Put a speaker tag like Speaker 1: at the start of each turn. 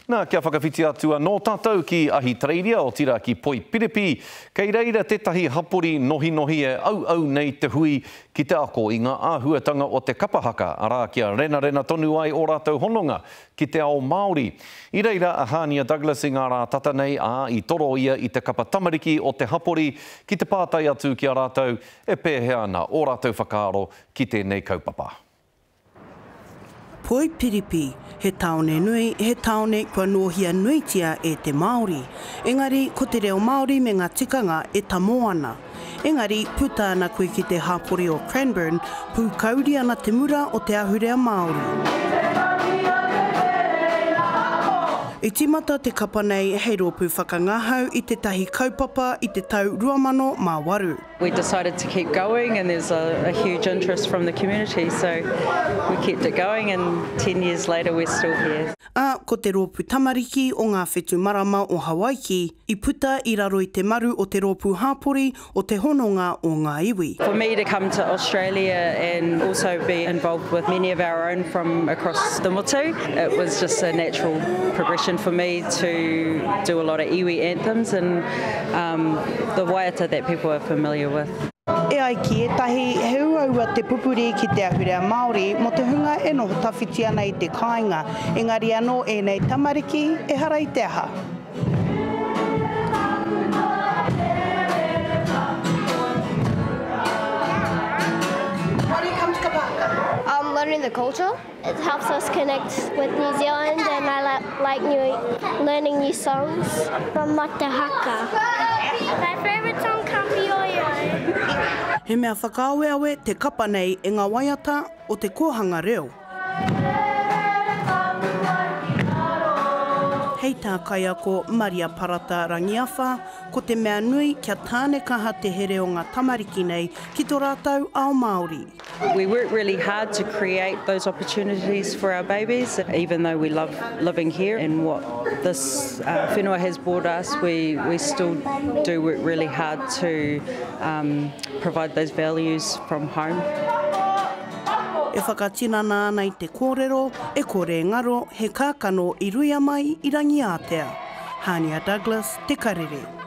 Speaker 1: Na, kia whakawhiti atu anō tātou ki Ahitereiria, otirā ki Poipiripi, kei reira tētahi hapori nohinohi e auau nei te hui ki te ako i ngā āhuatanga o te kapa haka, arā, kia renarena tonu ai ō rātou hononga ki te ao Māori. I reira a Hania Douglas i ngā rā tata nei, ā, i toro ia i te kapa tamariki o te hapori ki te pātai atu ki a rātou e pēhea ana ō rātou whakaaro ki tēnei kaupapa.
Speaker 2: Poipiripi, he tāone nui, he tāone kua nōhia nuitia e te Māori. Engari, ko te reo Māori me ngā tikanga e tamo ana. Engari, puta ana koe ki te hapori o Cranbourne, pūkauri ana te mura o te ahurea Māori. I tīmata te kapa nei hei rōpū whakangahau i tētahi kaupapa i te tau 2008. We decided to
Speaker 3: keep going and there's a, a huge interest from the community so we kept it going and 10 years later we're still here. Ā, ko te rōpū
Speaker 2: tamariki o ngā whetu marama o Hawaiki i puta i raro i te maru o te rōpū hāpori o Te Hononga o Ngā Iwi. For me to come to
Speaker 3: Australia and also be involved with many of our own from across the motu, it was just a natural progression for me to do a lot of iwi anthems and Um, the waiata that people are familiar with. E ai ki
Speaker 2: ētahi, he uaua te pupuri ki te ahurea Māori mō te hunga e noho tawhiti ana i te kāinga, engari anō ēnei tamariki, ehara i te aha. Um, learning the culture.
Speaker 4: It helps us connect with New Zealand and I like new, learning new songs. From What the Haka. My favourite song comes from Yoyo. He
Speaker 2: mea whakaaweawe te kapa nei e ngā waiata o te kōhanga reo. Hei tā Kaiako Maria Parata Rangiawha, ko te mea nui kia tāne kaha te here o ngā tamariki nei ki to rātou ao Māori. We work really
Speaker 3: hard to create those opportunities for our babies, even though we love living here and what this uh, whenua has brought us, we, we still do work really hard to um, provide those values from home.
Speaker 2: E whakatinana ana i te kōrero, e kore ngaro he kākano i ruia mai i Rangiātea. Hania Douglas, Te Karere.